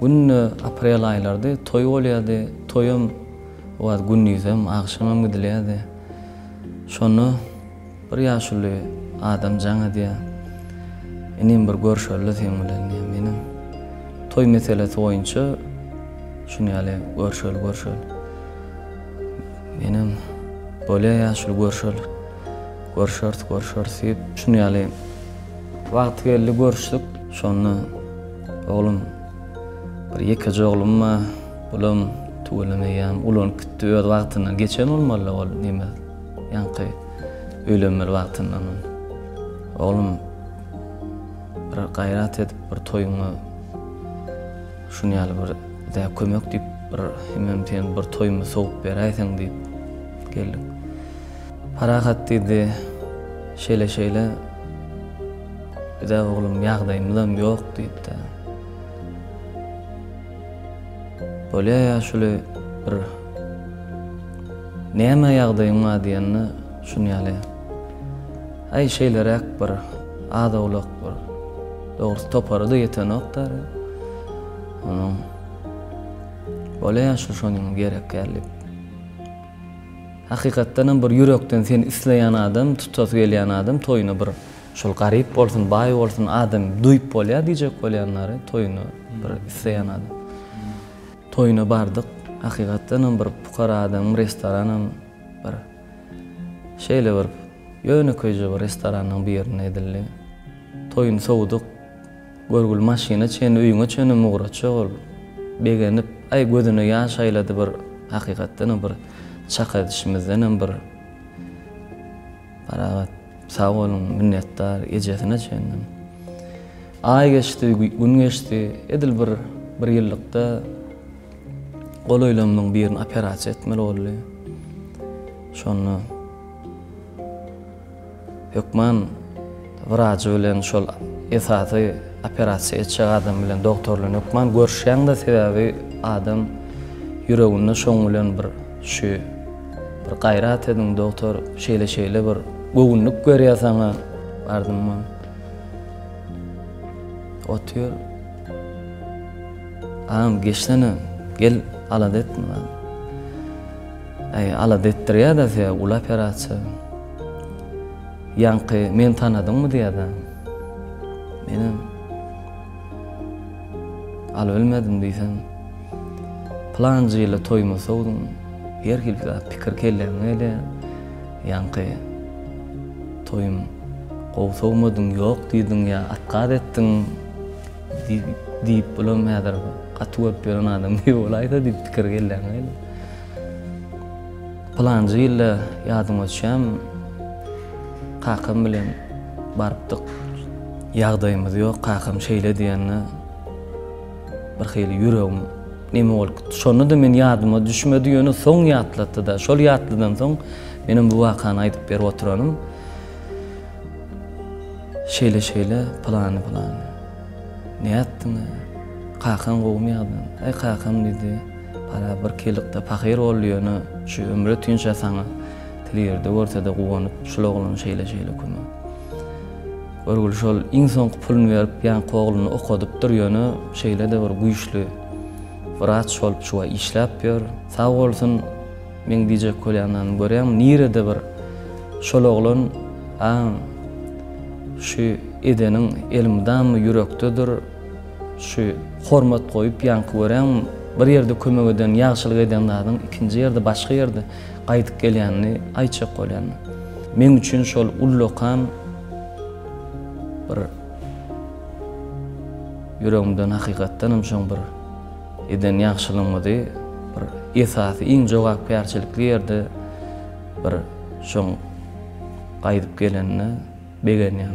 Günde aprel aýlardy, toý bolýardy, toýam owaýt gündizem, agşamam gidilýärdi. Şonda bir ýaşuly adam jaň edýär. Inim bir görşeli seň bilen diýýär. Menem toý meselesi boýunça şuny ýaly görşeli görşeli. Menem bolýar ýaşuly görşeli. Görşeris görşeris diýip şuny ýaly Wagty geldi görüşdik. Şonda oglum bir ýekeje oglum bar. Bulam tüweleme eýýäm ulanyp gitdi. Öz wagtyndan geçen bolmaly ol neme ýaňky öýlenmeli wagtyndan. Oglum bir gaýrat edip bir toýuňa şuny ýaly bir dä kömek diýip bir hemem sen bir toýumy sowup beräýseň diýip geldik. Parahat diýdi, Şeýle-şeýle, biz-ä oglum ýagdaýymyzam ýok diýdi-de. Bolýar ýaşuly bir Näme ýagdaýyň bar diýende, şuny ýaly, Aý, şeýleräk bir az-owlak bir, dogrusy topary-da ýetenok däri. Onuň Bolýar ýaşuly şonuň gerek ýaly diýip. Hakykatdanam bir ýürekden seni isleýän adam, tutasy gelýän adam toýuna bir şol garyp bolsun, baý bolsun adam duýup bolýar diýjek bolýanlary toýuna bir isleýän adam. Toýuna bardyk. Hakykatdanam bir pukara adamyň restoranam bir şeýle bir ýönekeýje bir restoranyň birinde edildi. Toýuny sowudyk. Görgül maşyna çenli öýüňe çenlem ugratjak ol. Begenip, aý gözüne ýaş aýlady bir hakykatdanam bir çak edişimizdenem bir parahat sag boluň minnetdar ejesine çenlem. Aý geçdi, gün geçdi, edil bir bir ýyllykda golaýlarymyň birini operasiýa etmeli boldy. Şonda. Hökman wrajy bilen şol esasy operasiýa etjek adam bilen dogtor bilen hökman görüşýäňde sebäbi adam ýüreginde şoň bilen bir şu bir gaýrat ediň dogtor şeýle şeýle bir göwünlik berýär saňa bardymmy otyr agam geçsene gel alada etme Äý alada etdirýäda size uly operasiýa. Ýaňky meni tanadyňmy diýýäda. Menem Al bilmedim diýsem. Pylanjy ýyly toýuma sowduň. Her hili zat pikir kelläňe gelýär. Ýaňky toýum gowy sowmadyň ýok diýdiň ýa atgaz etdiň diýip bulam häzir gaty görüp ýören adam diýip bolaýsa diýip pikir kelläňe gelýär. Pylanjy ýylda ýadyňa düşýämi, kakam bilen barypdyk. Ýagdaýymyz ýok, kakam şeýle diýende bir hili ýüregim neme bolup gitdi. Şonda-da men ýadyma düşmedi, ýöne soň ýatlatdy-da. Şol ýatlydan soň menem bu wakany aýdyp berip oturanym. Şeýle-şeýle, pylany-pylany. Nätdiň-ä? Kakaň gowumy ýagdaýyň? Aý kakam diýdi. Para bir kilykda pahyr boldy ýöne şu ömre tünçe saňa til ýerde görsede guwanyp şul oglan şeýle şeýle kümä görgüli şol iň soňky pulun berip ýaňky ogluny okadypdyr ýöne şeýlede bir güýçli wraç bolup şuwa işläp ýör sag bolsun meň diýjek bolýanlarym görýäňmi nirede bir şol oglan a şu edeniň elmydama ýürekdedir. Şu hormat goýup ýaňky göräňmi bir ýerde kömek eden ýagşylyk eden zadyň ikinji ýerde başga ýerde gaýdyp gelýänini aýtjak bolýanda. Meň üçin şol ullakan bir ýüregimden hakykatdan hem şoň bir eden ýagşylygymyzy bir esasy iň jogapkärçilikli ýerde bir şoň gaýdyp gelende begenýän.